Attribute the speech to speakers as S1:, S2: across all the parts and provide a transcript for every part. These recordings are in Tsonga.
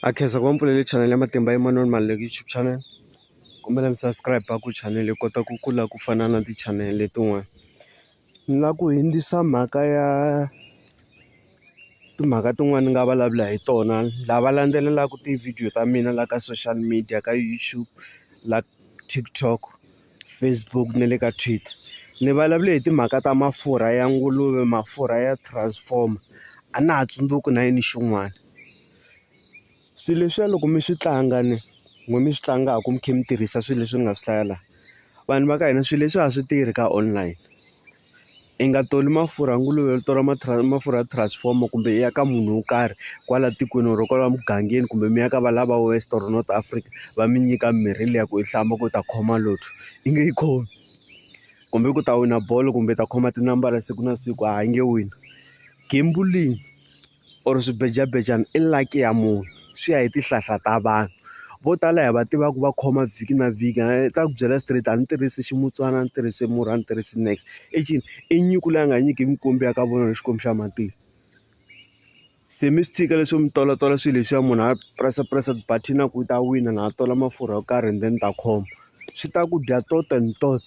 S1: a khensa ku va mpfulele channel ya matimba Emmanuel Maluleke YouTube channel kombela mi subscribe ku channel yi kota ku kula ku fana na ti-channel letin'wana ni la ku hindzisa mhaka ya timhaka tin'wani ni nga vulavula hi tona lava landzelelaka tivhidiyo ta mina la ka social media ka YouTube la TikTok Facebook na le ka Twitter ni vulavule hi timhaka ta mafurha ya nguluve mafurha ya transformer a na ha tsundzuki na yini xin'wana. Swilo leswiya loko mi swi tlanga ni n'wina mi swi tlangaka mi kha mi tirhisa swilo leswi ni nga swi hlaya laha, vanhu va ka hina swilo leswi a swi tirhi ka online. I nga toli mafurha nguluve u tola mafurha ya transformer kumbe i ya ka munhu wo karhi kwala tikweni or kwala mugangeni kumbe mi ya ka valava va West or North Africa, va mi nyika mimirhi liya ku yi hlamba ku u ta khoma lotto. I nge yi khomi. Kumbe ku u ta wina bolo kumbe u ta khoma tinambara siku na siku, hayi i nge wini. Gembulling. or swibejabejana i lucky ya munhu swi ya hi tihlahla ta vanhu vo tala hi va tiva ku va khoma vhiki na vhiki i ta ku byela straight a ni tirhisi ximutsuwana a ni tirhisi murhi a ni tirhisi niks i ncini i nyuku leyi a nga nyiki mikwembu ya ka vona hi xikwembu xa matilo se mi swi tshika leswo mi tolotola swilo leswiya munhu a press press ti-button a ku u ta wina na a tola mafurha yo karhi and then ni ta khoma swi ta ku dya tot and tot.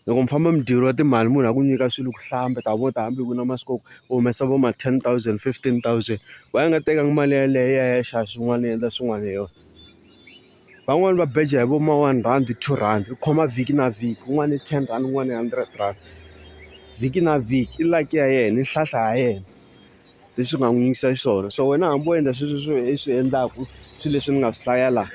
S1: Loko mi famba mi dyeriwa timali munhu a ku nyika swilo ku hlamba ta vo ta hambi ku ri na masiku ya ku u humesa vo ma ten thousand fifteen thousand why a nga tekanga mali yeleyo i ya i ya xava swin'wana i endla swin'wana hi yona van'wani va beja hi vo ma one rhandi two rhandi u khoma vhiki na vhiki un'wana i ten rhandi un'wana i hundred rhandi vhiki na vhiki i luck ya yena i nhlahla ya yena. leswi nga n'wi yisa xiswona so wena hambi wo endla sweswi swi i swi endlaku swilo leswi ni nga swi hlaya laha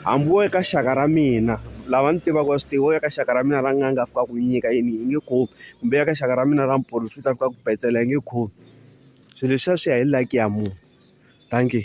S1: hambi wo ka xaka ra mina lava ni tivaka va swi tiva wo ya ka xaka ra mina ra n'anga a fika a ku nyika yini i nge khomi kumbe ya ka xaka ra mina ra muporofeta a fika a ku petsela i nge khomi swilo leswiya swi ya hi luck ya munhu dankie.